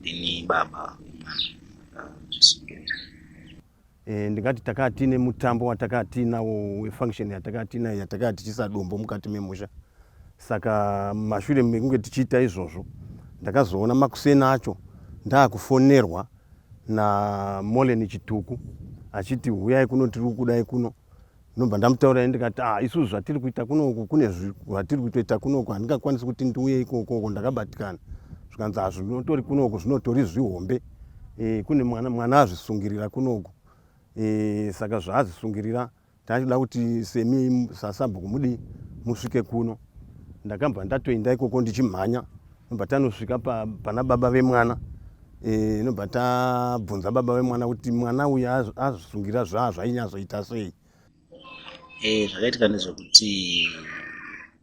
ndini baba eh, ndingati takaa tiine mutambo watakaa tiinawo wefunction yatakaa tiinayo yatakaa tichiisa dombo mukati memusha saka mashure mekunge tichiita izvozvo ndakazoona makuseni acho ndaakufonerwa namolen chituku achiti huyai kuno tiri kukudai kuno ndobva ndamutaurira ndikati ah isusu zvatiri kuita kunoku kune zvatiri kutoita kunoku handingakwanisi kuti ndiuye ikokoko ndakabatikana zvikanzi ah zvinotori kunoku zvinotori zvihombe e, kune mwana, mwana azvisungirira kunoku e, saka zvaazvisungirira taitoda kuti semi sasabhuku mudii musvike kuno ndakabva ndatoenda ikoko ndichimhanya ndobva tanosvika pa, pana baba vemwana Eh, inobva tabvunza baba vemwana kuti mwana uyu azvisungira zvaa zvainyatsoita sei eh, zvakaitika ndezvekuti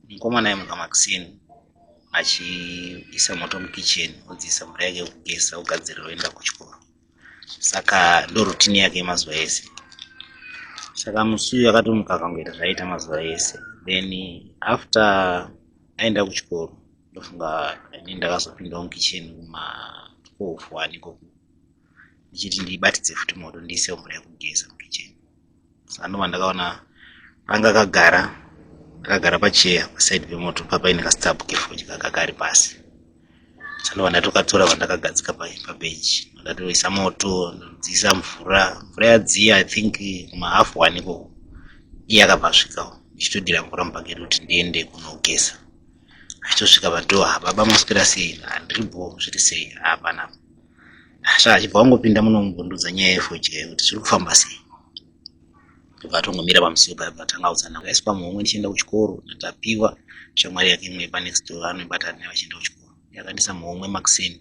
mukomana aimuka makuseni achiisa moto mukitchen odziisa mvura yake yekugesa ogadzirira oenda kuchikoro saka ndorutini yake yemazuva ese saka musi uyu akatomuka akangoita zvaiita mazuva ese then after aenda kuchikoro ndofunga ini ndakazopindawo mukitchen kuma 12 wani ikoko ndichiti ndibatidze futi moto ndiisewo mvura yekugeza mukitchen sanova ndakaona anga akagara akagara pacheya pasaidi pemoto papaine kastabhu kefodya kakari pasi Sando vandatoka tsora vandakagadzika pa pa bench. Ndatoisa moto, ndodzisa mvura. Mvura yadziya I think kuma half one ko. Iye akabva asvika ndichitodira mvura mubhaketi kuti ndiende kunogeza. Achitosvika pa door, ha baba maswera sei? Handiri bho, zviri sei? Hapana. Asha achibva angopinda muno kumbondudza nyaya yefoji kuti zviri kufamba sei. ndobva atongomira pamusiwo paya bva tangaudzana aiswa muhomwe ndichienda kuchikoro ndatapiwa shamwari yake imwe yepanext door anoibata naye vachienda kuchikoro yakandisa muhomwe makuseni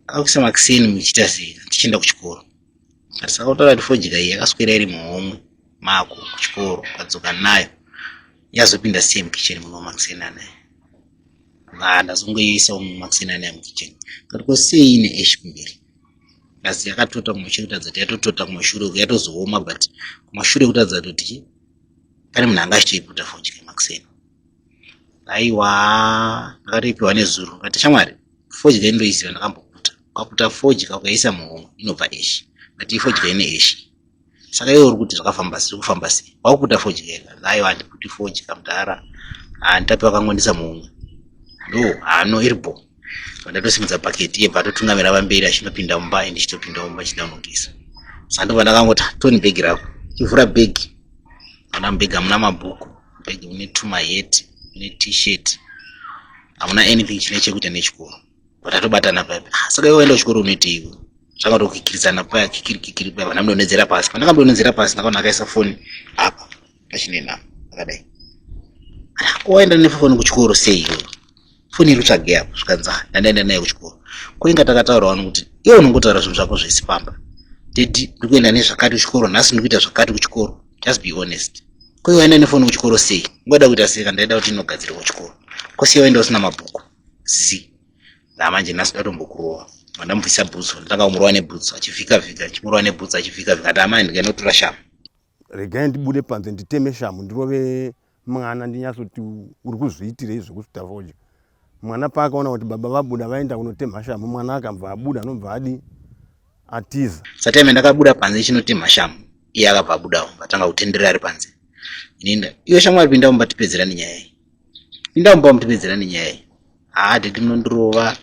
akakuisa makuseni muchiita sei tichienda kuchikoro asi akautaura kuti fojika iyi yakaswera iri muhomwe mako kuchikoro ukadzoka nayo yazopinda sei mukicheni muno makuseni anaye ndazongoiisawo mumakuseni anaye mukicheni kuti ko sei ine eshi kumberi asi yakatota kumashure kutaridza kuti yatotota kumashure uku yatozooma but kumashure kutaridza kuti pane munhu anga achitoiputa fodya yemakuseni aiwa ndakatoipiwa nezuro kati shamwari fodya indoiziva ndakamboputa kwaputa fodya kuyaisa muhomwe inobva eshi but ifodya ine eshi saka iwe uri kuti zvakafamba sei kufamba sei wakuita fodya ega aiwa handikuti fodya mudhara handitapi vakangondisa mumwe ndo hano iri bo vandatosimudza paketi yebva atotungamira vamberi achinopinda mumba and chitopinda mumba chidamukisa sandobva ndakangoti toni bhegi rako chivhura bhegi ana mubhegi hamuna mabhuku bhegi mune tumaheti mune t-shirt hamuna anything chine chekuita nechikoro Tatobatana paya. Ah, saka iwe waenda kuchikoro unoitei iwe? Zvanga tokikiridzana paya kikiri kikiri paya vana mudonhedzera pasi. Pandanga mudonhedzera pasi ndakaona akaisa phone apa pachinenama akadai. Ah, ko waenda nefoni kuchikoro sei iwe? Phone iri tsvage apo zvikanzi ah, ndandaenda naye kuchikoro. Ko inga takataura wani kuti iwe unongotaura zvinhu zvako zvese pamba. Daddy ndiri kuenda nezvakati kuchikoro nhasi ndiri kuita zvakati kuchikoro. Just be honest. Ko iwe waenda nefoni kuchikoro sei? Ngoda kuita sei kana ndaida kuti inogadzirwa kuchikoro? Ko sei waenda usina mabhuku? zi ndamanje nhasi ndatombokurova ndamubvisa bhutsu ndotanga kumurova nebhutsu achivhika vhika achimurova nebhutsu achivhika vhika ati amai ndikainotora shamu regai ndibude panze nditeme shamu ndirove mwana ndinyatsoti uri kuzviitirei zvekuti tavoja mwana paakaona kuti baba vabuda vaenda kunotemha shamu mwana akabva abuda anobva adi atiza sateme ndakabuda panze chinotemha shamu iye akabva abudawo vatanga kutenderera ari panze inenda iwe shamwari pinda mumba tipedzera nenyaya iyi inda mumba mutipedzera nenyaya iyi haa ah, didi munondirova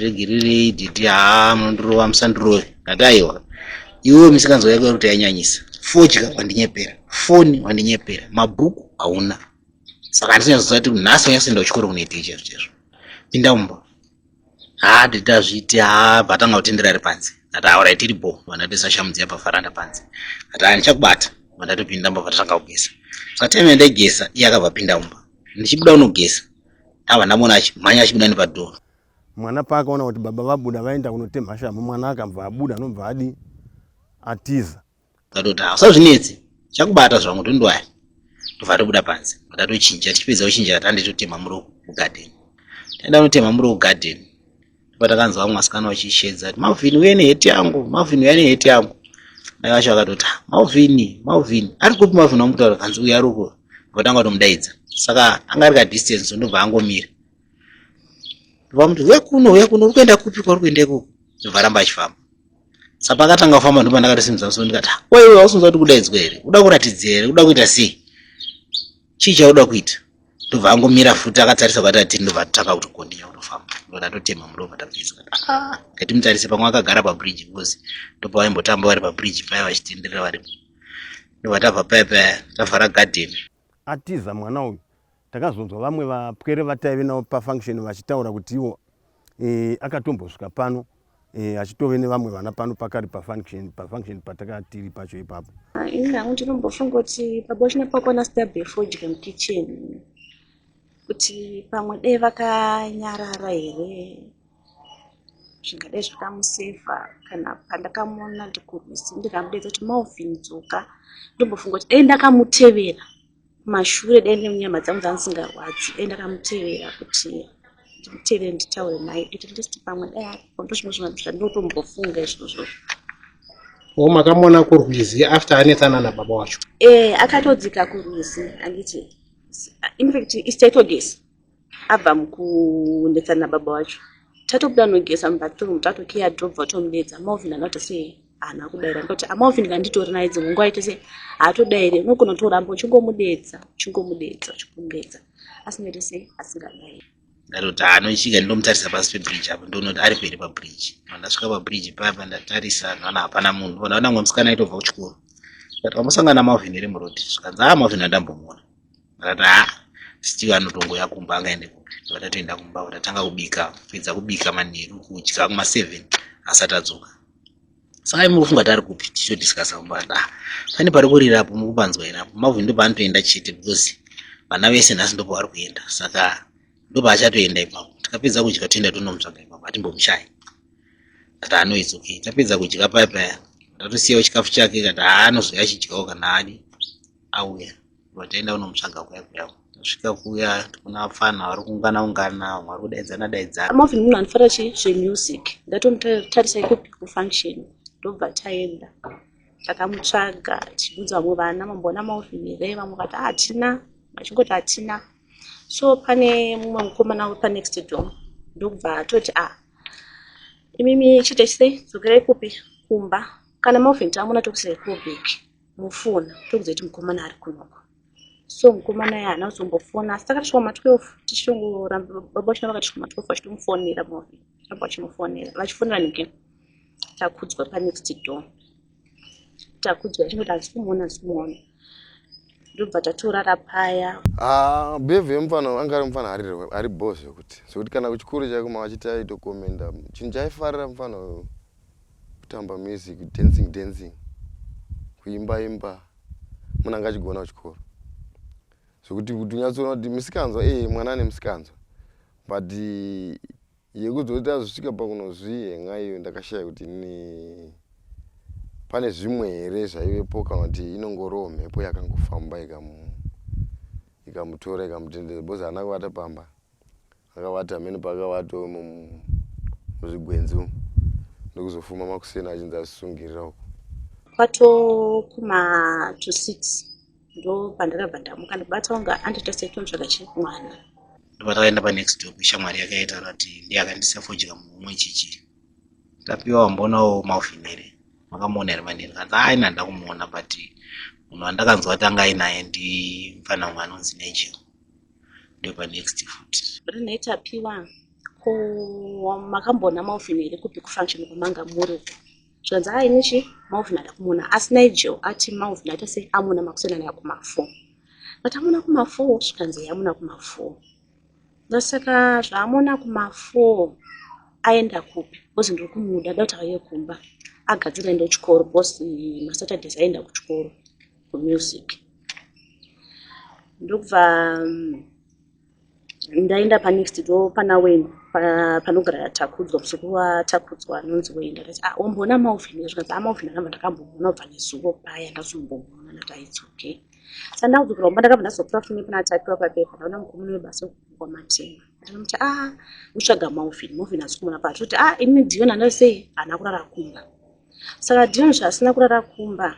regererei didi haa ah, munondirova musandirove ndati aiwa iwewe misikanzwa yako yakuti yanyanyisa fodya wandinyepera foni wandinyepera mabhuku hauna saka handisanyazozati nhasi wanyasoenda kuchikoro kunoitei chezvo chezvo pinda mumba haa titi azviiti haa vatanga kutendera ari panze ati aura itiri bho vandati sashamudzi yapafaranda panze ati haa ndichakubata vandatopinda mba vatanga kugesa sateme ndaigesa iye akabva pinda mumba ndichibuda unogesa ava ndamona achi mhanya achibuda nepadhoo mwana paakaona kuti baba vabuda vaenda kunotemhashamu mwana akabva abuda anobva adi atiza Ndatoti haa usazvinetsi chakubata zvangu tondwaya tobva tobuda panze ndatochinja tichipedza kuchinja tatande totema muro kugadheni taenda kunotema muro kugadheni tobva takanzwa vamwe vasikana vachishedza kuti malvin uye neheti yangu malvin uya neheti yangu mai vacho vakatoti ah, malvin malvin ari kupi malvin wamutaura kanzi uya ruko vatanga kutomudaidza saka anga ari kadistance so ndobva angomira vamuti uya kuno uya kuno uri kuenda kupi kwauri kuenda ikoko ndobva ramba achifamba sa pakatanga kufamba ndipo ndakatosimudza musoro ndikati "Ah, wewe wausinzwa kuti kudaidzwa here uda kuratidza here uda kuita sei chii chauda kuita ndobva angomira futi akatarisa kwati atiri ndobva atotanga kutokondinya kutofamba ndo ndatotema murova tabvisa "Ah, ngatimutarise pamwe akagara pabridge because ndobva vaimbotamba vari pabridge paya vachitenderera varipo ndobva tabva paya paya tavhara garden atiza mwana uyu takazonzwa vamwe vapwere vataive navo pafunction vachitaura kuti iwo e, akatombosvika pano e, achitove nevamwe vana pano pakari pafunction pafunction patakatiri pacho ipapo ini hangu ndinombofunga kuti paboshina pakona sida befodya mukitchen kuti pamwe dei vakanyarara here zvingadai zvakamusaver kana pandakamuona ndikurwizi ndikamudaidza kuti Malvin dzoka ndombofunga kuti dai ndakamutevera kumashure dai nyama dzangu dzanga dzisingarwadzi dai ndakamutevera kuti ndimutevere nditaure naye at least pamwe dai aripo ndozvimwe zvinhu zvandotombofunga izvozvo o makamuona kurwizi after anetsana nababa wacho ee eh, akatodzika kurwizi anditi infact istaitogesi abva mukunetsana nababa wacho tatobuda nogeza mubathroom tatokiya drobva tomudeedza amalvin anoti sei haana kudaira ndikati amalvin kana nditori naye dzimwe nguva aite sei haatodaire unogona kutoramba uchingomudeedza uchingomudeedza uchingomudeedza asingaite sei asingadaire ndatoti anochika ndomutarisa pasi pebridge apo ndonoti ari peri pabridge mandasvika pabridge payapa ndatarisa ndoona hapana munhu ndona kuti amwe musikana aitobva kuchikoro ndati wamusangana malvin iri muroad zvikanzi a ah, malvin andambomuona akati ha still anotongouya kumba angaende kupi vatatoenda kumba vatatanga kubika kupedza kubika manheru kudya kumaseven asati adzoka saka imi kufunga tari kupi tichodiskasa kumba kati ah pane pari kurira apo mukupanzwa here apo mavhu ndo paanotoenda chete because vana vese nhasi ndo pavari kuenda saka ndo paachatoenda ipapo tikapedza kudya toenda tonomutsvaga ipapo atimbomushayi kati anoits okay tapedza kudya paya paya tatosiyawo chikafu chake kati haanozouya achidyawo kana adi auya Vataenda kunomutsvaga kuya kuya tasvika kuya tikuna vapfana vari kuungana ungana vamwe vari kudaidzana daidzana. Marvin munhu anofara chi zvemusic ndatomutarisa ikupi kufunction ndobva taenda takamutsvaga tichibvunza vamwe vana mamboona Marvin here vamwe vati hatina vachingoti hatina so pane mumwe mukomana wepa next door ndokubva atoti a ah, imimi chitesei dzokerai kupi kumba kana Marvin tamuna tokusei kubiki mufona tokuziva kuti mukomana ari kunoko so mukomana ya haana kuzombofona asi takatosvika ma 12 tichitongoramba baba vachina vakatosvika ma 12 vachitomufonera movi amba vachimufonera vachifonera nike takudzwa panext door takudzwa achingoti hazi kumuona hazi kumuona ndobva tatorara paya ah, behavior yemufana anga ari mufana ari bho zvekuti zvekuti kana kuchikuru chaiko mavachiti aitokomenda chinhu chaifarira mufana uyo kutamba music dancing dancing kuimba imba munhu anga achigona kuchikoro zvekuti kuti unyatsoona kuti misikanzwa ee eh, mwana ane misikanzwa but eh, yekuzoita zvisvika pakunozvihenga iyo ndakashaya kuti ni pane zvimwe here zvaivepo kana kuti inongoriwo mhepo yakangofamba ikamutora ikamutendera bcoz haana kuvata pamba akavata hameno paakavata umo muzvigwenzi umo ndokuzofuma makuseni achinzi asisungirira uko kwato kuma to six ndo pandakabva ndamuka ndibata kunga anditasetonzvaka chii mwana ndopatakaenda panext door kushamwari yake yaitaura kuti ndiye akandisa fodya muhumwe chichi ndapiwa wambonawo maufinere makamuona here manini kanzi aina ndakumuona but munhu wandakanzwa tanga ainaye ndimfana umwe anonzi nejel ndopa next foot rinoita piwa ko makambona maufin here kupi kufunction kwamanga muri uko zvanzi a ini chi maufin ada kumona asi nigel ati maufin aita sei amona makusenana yakumafo but amona kumafo zvikanzi yamona kumafo ndosaka zvaamona kumafo aenda kupi bcoz ndiri kumuda dauti aiye kumba agadzira enda kuchikoro bcos masaturdays aenda kuchikoro music ndokubva mm, ndaenda panext do pana wen panogara yatakudzwa musuku watakudzwa anonzi wen ndakati ah wamboona maofin zvikanzi amaofin ah, anamba ndakamboona ubva nezuvo paya ndazomboona ndakaiti okay sa ndakudzokera kumba ndakabva ndazopura fune pana atapiwa papepa ndaona mukomuni webasa wekukwa matenga ndinomuti a ah, utsvaga maofin maofin asikumona pacho kuti a ah, ini dion andari sei haana kurara kumba saka dion zvaasina kurara kumba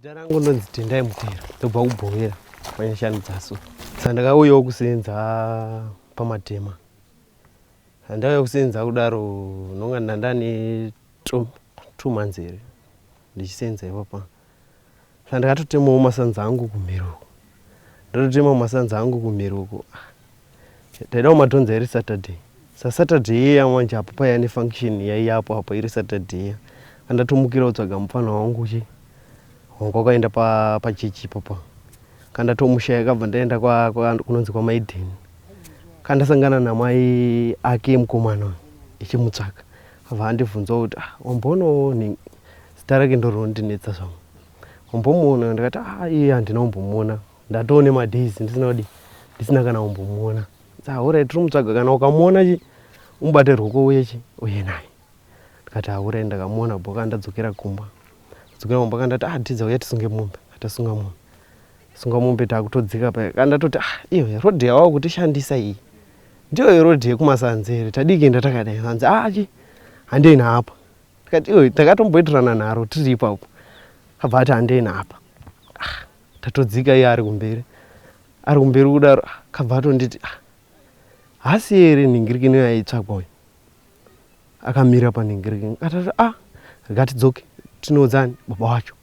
Zita rangu ndonzi Tendai Mutera, ndobva kubhowera panyashanu dzaso. Saka ndakauyawo kusenza pamatema. Ndakauya kusenza kudaro ndonga ndandane two months here ndichisenza ipapa. Saka ndakatotemawo masanza angu kumhiri uko. Ndototemawo masanza angu kumhiri uko. Taida kumatonza iri Saturday. SaSaturday iya manje apo paiya nefunction yaiya apo apo iri Saturday iya. Kandatomukira kutsvaga mupfanha wangu uchi hongu wakaenda pa pachechi ipopo. Kandatomushaya kabva ndaenda kwa, kwa kunonzi kwaMaiden. Kandasangana namai ake emukomana uyu echimutsvaga. Abva andibvunzawo kuti ah wamboonawo nhingi zita rake ndorondinetsa zvangu. Wambomuona ndikati ah iye handina kumbomuona. ndatoo nemadays ndisina kudi ndisina kana kumbomuona ahurai tiri mutsvaga kana ukamuona chi umubate ruoko uye chi uye naye ndikati ahurai ndakamuona boka ndadzokera kumba dzokera kumba kandati ah tidza uya tisunge mombe atasunga mombe sunga mombe takutodzika paya kandatoti ah iyo rodhi yawava kutishandisa iyi ndiyo yerodhi yekumasanzi here tadii kuenda takadai hanzi ah chi handei naapa ndikati iyo takatomboitirana nharo tiri ipapo abva ati handei naapa Tatodzika iye ari kumberi ari kumberi kudaro ah, kabva atonditi ah, hasi here nhingirikini yaitsvagwa uyu akamira panhingirikini katati a ah, rikatidzoke tinoudzani baba wacho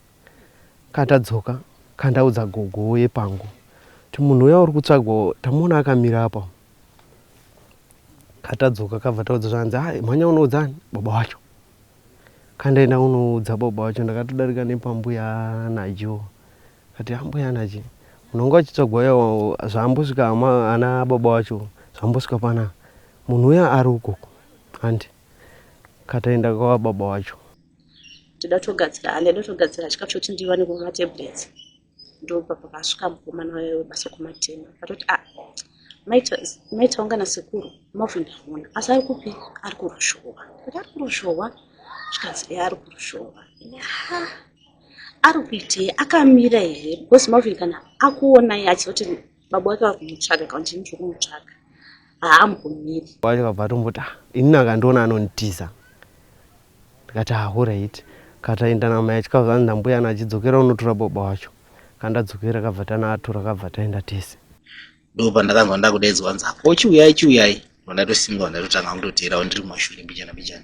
katadzoka kandaudza gogo yepangu ti munhu uya uri kutsvagwa tamuona akamira apa katadzoka kabva taudza zvanzi a ah, mhanya unoudzani baba wacho Kanda enda unoudza baba wacho ndakatodarika nepambuya anajo kati ambuya anaje munonga uchitsvagwa uya zvaambosvika ana baba wacho zvambosvika pana munhu uya ari ukoko handi kataenda kwava baba wacho tida togadzira handi aida togadzira chikafu chotindiva nekuva matablets ndopa pakasvika mukomana waye webasa kumatema akatoti a ah, maitaunga nasekuru move ndaona asi ari kupi ari kurushohwa kuti ari kurushohwa zvikanzi e ari kurushohwa ari kuitei akamira here because move kana akuonai achizoti baba wake vakumutsvaga kana chini chokumutsvaga haambomiri wacho kabva atomboti ah, inini akandiona anonditiza ndikati ahuright ah, kataenda namai achikabva anzi nambuya ana achidzokera unotora baba wacho kandadzokera kabva tana atora kabva taenda tese ndo pandakanzwa ndakudaidzwa nzi apo chiuyai chiuyai vandatosimuka vandatotanga kutoteerawo ndiri mumashure mbijana mbijana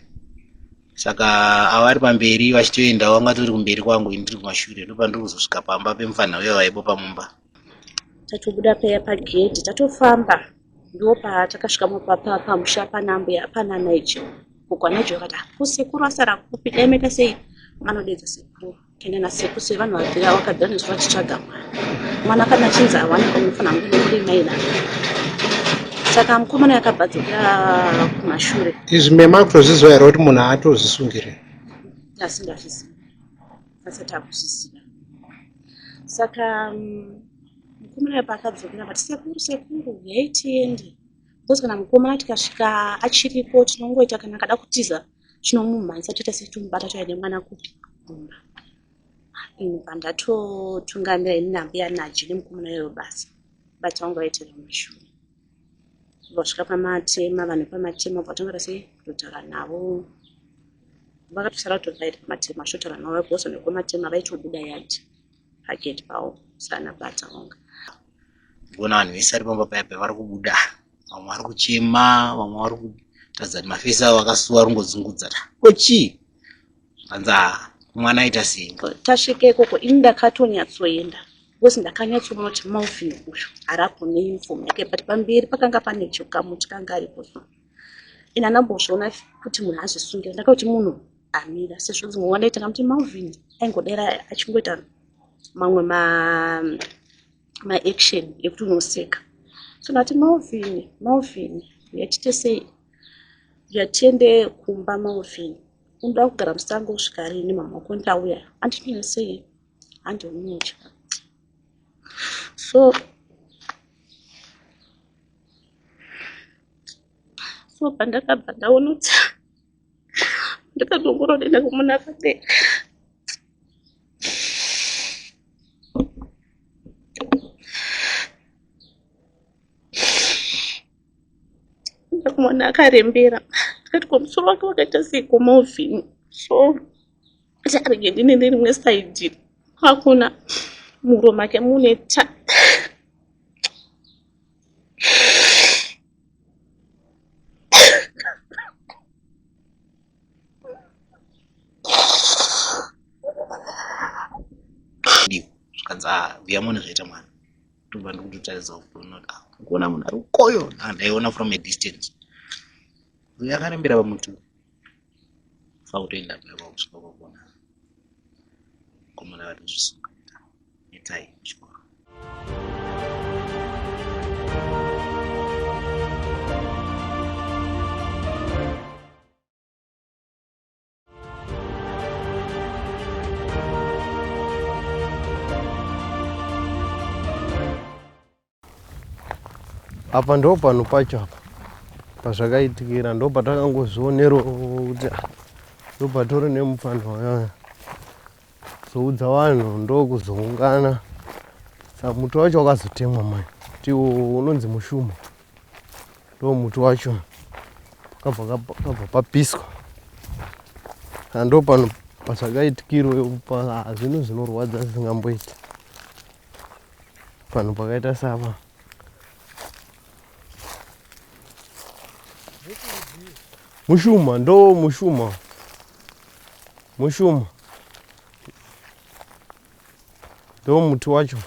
saka avo vari pamberi vachitoendawo vanga tori kumberi kwangu ini ndiri kumashure ndo pandiri kuzosvika pamba pemufana uya vaibo pamumba Tatobuda paya pagedhi tatofamba ndipo patakasvika pamusha panambuya pana naijo uko anaijo akati ko sekuru asara kupi dai maita sei vanodedza sekuru kenda nasekuru sei vanhu vabvira vakabvira nezvo vachitsvaga mwana mwana kana achinzi hawana unofanira kunge nemuri mai navo saka mukomana yakabva dzokera kumashure izvi mema kutozviziva here kuti munhu haatozvisungire asi ndazviziva asati akuzviziva saka mm, mukomana ipa akadzokera vati sekuru sekuru yai tiende bcause kana mukomana tikasvika achiripo tinongoita kana akada kutiza tinomumhanyisa toita setomubata toya nemwana kupi kumba ini pandatotungamira ini nambuya naji nemukomana iyoyo basa bati vanga vaitira mashura Vasvika pamatema vanhu pamatema vatanga rese kutotaura navo vakatosara kutovaita pamatema vachotaura navo because vanhu vekumatema vaitobuda yati pagate pavo sana bata vonga gona vanhu vese ari pamba paya pavari kubuda vamwe vari kuchema vamwe vari kutaridza kuti mafesi avo akasuwa ringodzungudza ta ko chii hanzi haa mwana aita sei tasvika ikoko ini ndakatonyatsoenda because ndakanyatsoona kuti malvin uyu arapo neuniform yake but pamberi pakanga pane chokamu chikanga aripo so and anambozviona kuti munhu azvisungira ndakakuti munhu amira sezvo dzimwe nguva ndaitanga kuti malvin aingodera achingoita mamwe maaction ma ekuti unoseka so ndati malvin malvin yatite sei yatiende kumba malvin unoda kugara musango kusvika rini mama wako ndauya andinoya sei handi unotya so so pandakabva ndaonotsa ndakatongoroenda kumuna fate ndakumona akarembera ndikati ko musoro wake wakaita sei komovhini so kuti arege ndine nerimwe saidi kwakuna muro make mune ta zvikanzi ah, vuyamone zvaita mwana ndobva ndikutotaridza kuona kuti ah, kuona munhu ari ukoyo ah, ndaiona from a distance uyo akarembera pamuti fa kutoenda paiva kusvika kwakuona komana vatozvisunga itai chikoro apa ndo panhu pacho apa pazvakaitikira ndo patakangozvioneroo kuti ah, ndo patori nemupfanha wayaya Zoudza vanhu ndokuzoungana sa muti wacho wakazotemwa mani ti unonzi mushuma ndo muti wacho kabva kabva papiswa ando pano pasakaitikiro pazvinhu zvinorwadza zvisingamboiti panhu pakaita sava mushuma ndo mushuma Mushumo ndo muti wacho.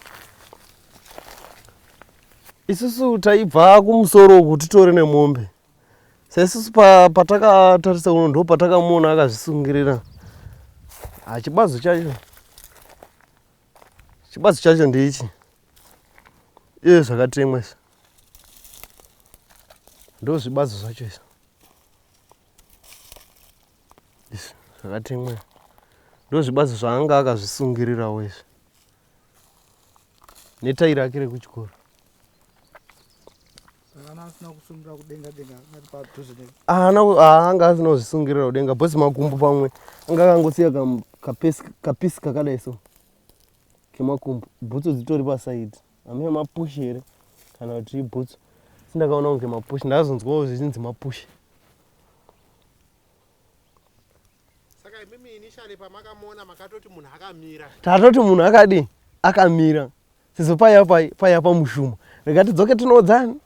Isusu taibva kumusoro uku titore nemombe saisusu patakatarisa pa uno ndo patakamuona akazvisungirira hachibazo chacho chibazo chacho ndeichi iye zvakatemwa izvi ndo zvibazo zvacho izvi izvi zvakatemwa ndozvibazi zvaanga akazvisungirirawo izvi netai rake rekuchikoro aanga asina kuzvisungirira kudenga bhosi makumbo pamwe anga akangosiya kapisi kakadai so kemakumbo bhutsu dzitori pasaidi Amwe mapush here kana kuti ibhutsu sindakaona kunge mapush ndazonzwawo zvichinzi mapush saka imimi initially pamakamuona makatoti munhu akamira tatoti munhu akadii akamira sizo paiya paiya pamushuma rekati dzoke tinoodzani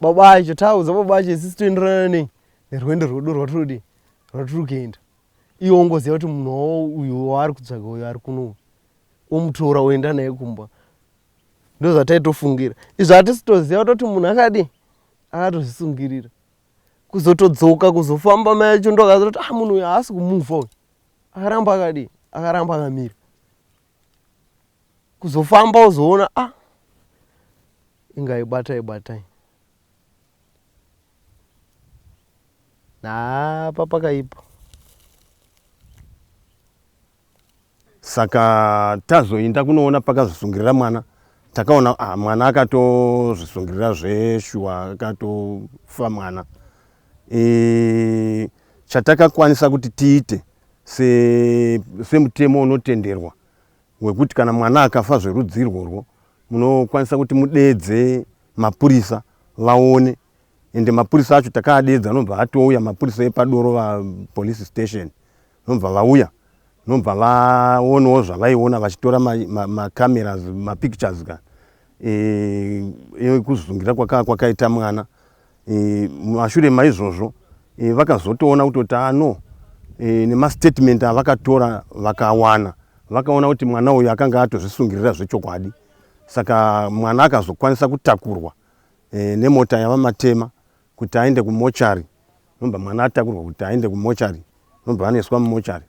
baba acho taudza baba acho isisi toenderana nei nerwendo rwedu rwatirodi rwatiri kuenda Iwe ongoziva kuti munhu wawo uyu waari kutsvaga uyu ari kuno uyu. Omutora oenda naye kumba. Ndozvataitofungira. Izvi hatisitoziva kutoti munhu akadii? Akatozvisungirira. Kuzotodzoka kuzofamba mai acho ndokaziva kuti ah munhu uyu haasi kumufa uyu. Akaramba akadii? Akaramba akamira. Kuzofamba ozoona ah inga ibatai batai. apa pakaipa saka tazoinda kunoona pakazvisungirira mwana takaona ah, mwana akatozvisungirira zveshuwa akatofa mwana e, chatakakwanisa kuti tiite semutemo se unotenderwa wekuti kana mwana akafa zverudzirwo rwo munokwanisa kuti mudedze mapurisa vaone ende mapurisa acho takaadedza nobva atouya mapurisa epadoro vapolice station nobva vauya nobva vaonawo zvavaiona vachitora macameras ma, ma mapictures ka ekuzungira e, kwakaa kwakaita mwana e, mashure maizvozvo e, vakazotoona kutoti ah, no e, nemastatement avakatora vakawana vakaona kuti mwana uyu akanga atozvisungirira zvechokwadi saka mwana akazokwanisa kutakurwa e, nemota yavamatema kuti aende kumochari nobva mwana atakurwa kuti aende kumochari nobva anoiswa mumochari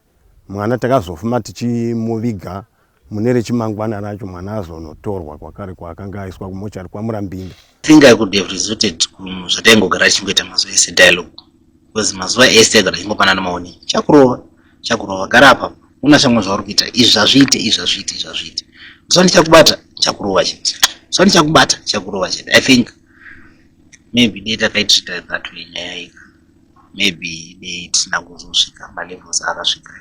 mwana takazofuma tichimuviga mune rechimangwana racho mwana azonotorwa kwakare kwaakanga aiswa kumochari kwamurambinda think i could have resorted kuzvataingogara achingoita mazuva ese dialogue because mazuva ese kana chingopanana maoni chakurova chakurova gara apa una shamwa zvauri kuita izvi zvazviite izvi zvazviite izvi zvazviite zuva ndichakubata chakurova chete zuva ndichakubata chakurova chete i think maybe dei takaitreata that way nyaya ika maybe dei tisina kuzosvika malevels akasvika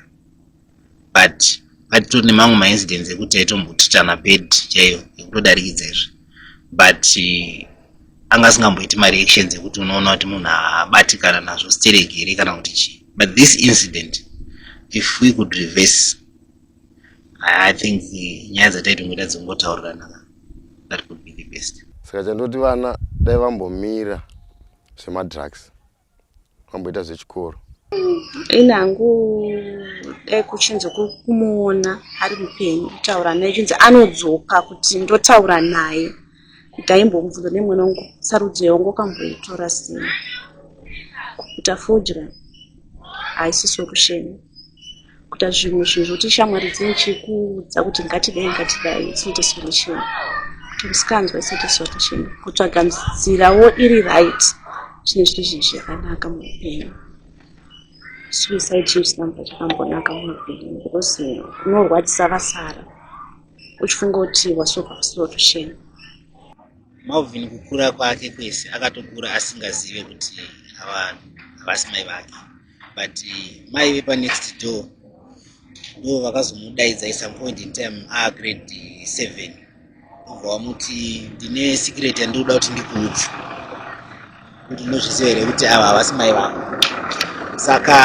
but atitori nemamwe maincidents ekuti aitombotritana bed chaiyo ekutodarikidza izvi but eh, anga asingamboiti mareactions ekuti unoona kuti munhu abatikana nazvo stereki here kana kuti chii but this incident if we could reverse i think eh, nyaya dzataitongoita dzingotauriranaa that could be the best saka chandoti vana dai vambomira zvemadrugs amboita zvechikoro ini hangu dai kuchinzi kuri kumuona ari mupenyu kutaura naye chinzi anodzoka kuti ndotaura naye ndaimbomubvunza nemwana wangu sarudzo yawangu kamboitora sei kuputa fodya haisi solution kuita zvimwe zvinhu zvokuti shamwari dzine chikuudza kuti ngatidai ngatidai it's not a solution kuti musikanzwa it's not a solution kutsvaga nzirawo iri right zvine zviri zvinhu zvakanaka muupenyu suicide chinhu chisina mva chakambonaka muupenyu because unorwadzisa vasara uchifunga kuti wasova solution malvin kukura kwake kwese akatokura asingazive kuti avanhu havasi mai vake but mai vepa next door ndo vakazomudaidza at some point in time a grade seven obva wamuti ndine secret yandinoda kuti ndikuudze kuti unozviziva here kuti ava havasi mai vako saka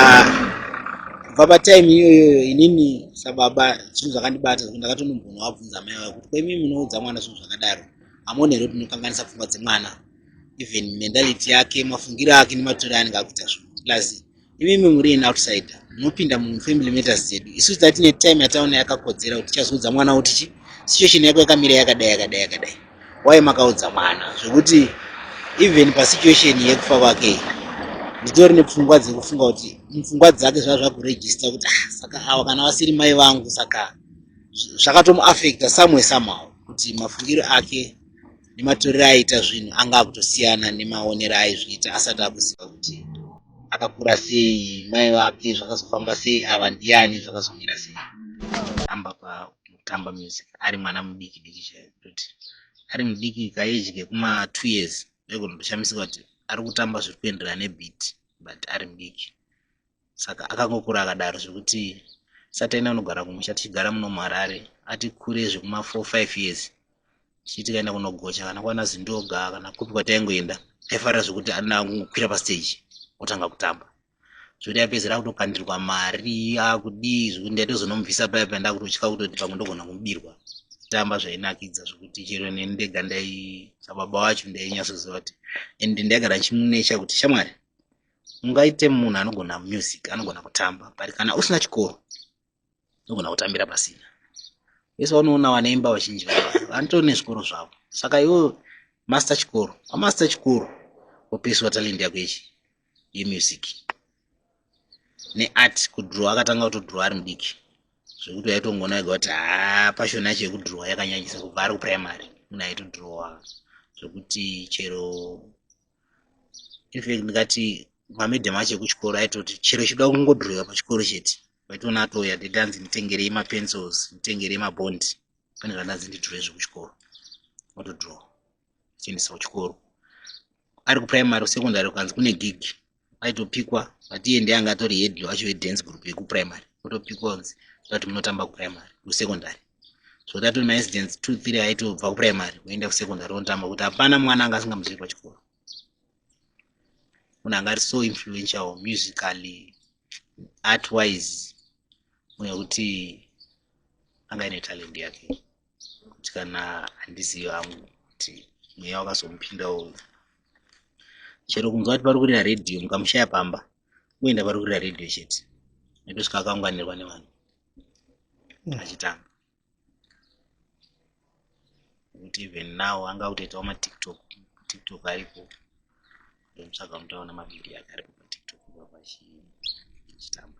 kubva patime iyoyoyo inini sababa zvinhu zvakandibata zvekuti ndakatonombona wabvunza mai vayo kuti kwaimi munoudza mwana zvinhu zvakadaro hamuoni here kuti munokanganisa pfungwa dzemwana even mentality yake mafungiro ake nematori anenge akuita zvinhu plus imimi muri in outsider munopinda mufamily matters dzedu isu tati tine time yataona yakakodzera kuti tichazoudza mwana kuti chi situation yako yakamira yakadai yakadai yakadai waye makaudza mwana zvekuti even pasituation yekufa kwake nditori nepfungwa dzekufunga kuti mupfungwa dzake zvaa zvakurejista kuti ah, saka awa kana vasiri mai vangu saka zvakatomuafecta somewhere somehow kuti mafungiro ake nematorero aiita zvinhu anga akutosiyana nemaonero aizviita asati akuziva kuti akakura sei mai vake zvakazofamba sei ava ndiani zvakazomira sei amba pakutamba music ari mwana mudiki diki chaiyo kutoti ari mudiki kaeji kekuma two years ndaigona kutoshamisika kuti ari kutamba zviri kuenderana nebit but ari mudiki saka akangokura akadaro zvekuti sataina kunogara kumusha tichigara muno muharare ati kure zvekuma 4 5 years tichiti kaenda kunogocha kana kwana zindoga kana kupi kwataingoenda aifarira zvekuti ana kungokwira pastage otanga kutamba zvekuti aipedzera akutokandirwa mari akudii zvekuti ndaitozonomubvisa paya paya ndakutotya kutoti pamwe ndogona kumubirwa tamba zvainakidza zvekuti chero neni ndega ndai sababa wacho ndainyatsoziva kuti and ndaigara ndichimunecha kuti shamwari ungaite munhu anogona music anogona kutamba but kana usina chikoro unogona kutambira pasina vese vanoona vanoimba vazhinji vava vanotori nezvikoro zvavo saka iwo master chikoro pamaster chikoro wopeswa talent yako yechi yemusic neart kudhrowa akatanga kutodhrowa ari mudiki zvekuti waitongona ega kuti haa pashoni yacho yekudhrowa yakanyanyisa kubva ari kuprimary munhu aitodhrowa zvekuti chero infact ndikati mamadam acho ekuchikoro aitoti chero chida kungodhurika pachikoro chete vaitoona atouya dede anzi nditengerei mapencils nditengerei mabondi pane zvandanzi ndidhure zvekuchikoro otodhura chiendesa kuchikoro ari kuprimary secondary ukanzi kune gig aitopikwa but iye ndiye anga atori head wacho wedance group yekuprimary otopikwa kunzi tati munotamba kuprimary kusecondary so that was my incident two three aitobva kuprimary kuenda kusecondary onotamba kuti hapana mwana anga asingamuzivi pachikoro munhu anga ari so influential musically art wise uye kuti anga ine talent yake kuti kana handizivi hangu kuti mweya wakazomupinda uyu chero kunzwa kuti pari kurira redhiyo mukamushaya pamba kuenda pari kurira redhiyo chete netosvika akaunganirwa nevanhu mm. achitamba kuti even now anga kutoitawo matiktok tiktok ariko ndomutsvaga mutaona mavhidhiyo ake aripo patiktok ipapo achitamba